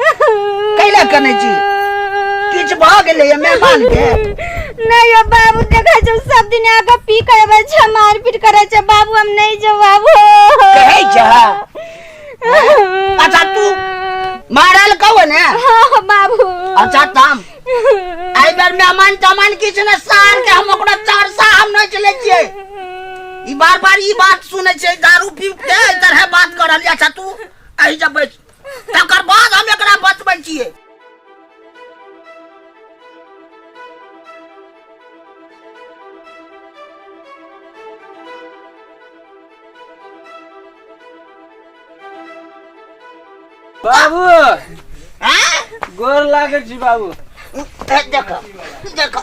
कैला कने छी किछ भ गेले ये मेहमान के नहीं यो बाबू देखा जो सब दिन आगा पी करे बे छ मार पीट करे छ बाबू हम नहीं जो बाबू कहै छ अच्छा तू मारल कहो ने हां बाबू अच्छा ताम आई बार मेहमान तमान किछ ने सार के हम ओकरा चार सा हम नहीं चले छिए ई बार बार ई बात सुने छै दारू पी के तरह बात करल अच्छा तू अही जब बैठ तकर बाद हम एकरा बचबै छियै बाबू आँय? गोर लागै छी बाबू ए, देखऽ देखऽ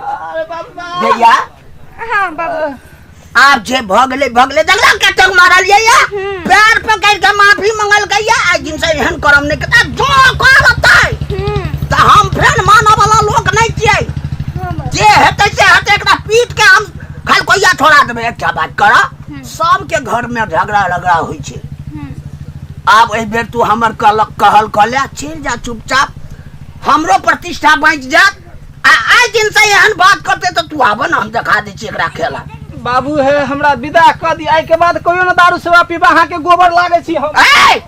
अरे बाबा भैया हाँ बाबू आप जे भगले भगले जगला के टंग मारल ये या पैर पकड़ के माफी मंगल के या आज दिन से एहन करम नहीं करता जो करता है हम्म, त हम फेर मानव वाला लोग नहीं छिए हाँ बाबू जे हेतै से हेतै एकरा पीट के हम खाली कोइया छोड़ा देबै एकटा बात कर हम्म। सबके घर में झगड़ा रगड़ा होइ छै हम्म, आब एहि बेर तू हमर कहल कहल कऽ ले चलि जा चुपचाप हमरो प्रतिष्ठा बाँचि जायत आ आइ दिन से एहन बात करते तो तू आबो ना हम देखा दै छी एकरा खेला बाबू हे हमरा विदा कऽ दी एहिके बाद कहियो ने दारू सेवा पीबा अहाँके गोबर लागै छी हम ए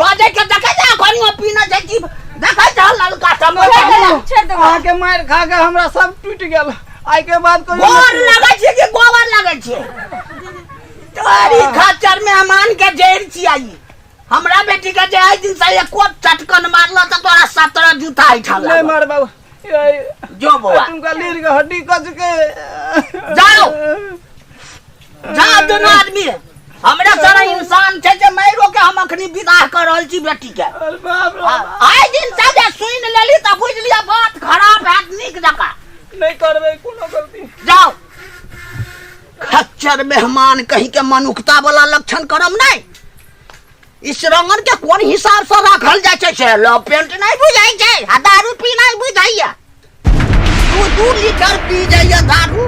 बाजे के देखे जा घनी में पीना जाइ छी देखे जा ललका समय छोड़ दो अहाँके मारि खा के हमरा सब टूटि गेल एहिके बाद कहियो गोबर ने- लगे छी कि गोबर लगे छी तोरी खच्चर में अमान के जैर छी आई हमरा बेटी के जे आइ दिन से एको चटकन मारला त तोरा सत्रह जूता आई छल नहीं मार बाबू ये- जो बौआ तुमका लीर के हड्डी कच के जाओ। जा दुनू आदमी हमरा सारा इंसान छै जे मारो के हम अखनी विदाह कर रहल छी बेटी के अरे बाप रे आ- बाप। आइ दिन से जे सुन लेली त बुझ लिया बात खराब हैत नीक जका नहीं करबे कोनो गलती जाओ खच्चर मेहमान कही के मनुखता वाला लक्षण करम नहीं इस रंगन के कोन हिसाब से राखल जाय छै से लव पेंट नहीं बुझाई छै आ दारू पी नहीं बुझाइया दू दू लीटर पी जाइया दारू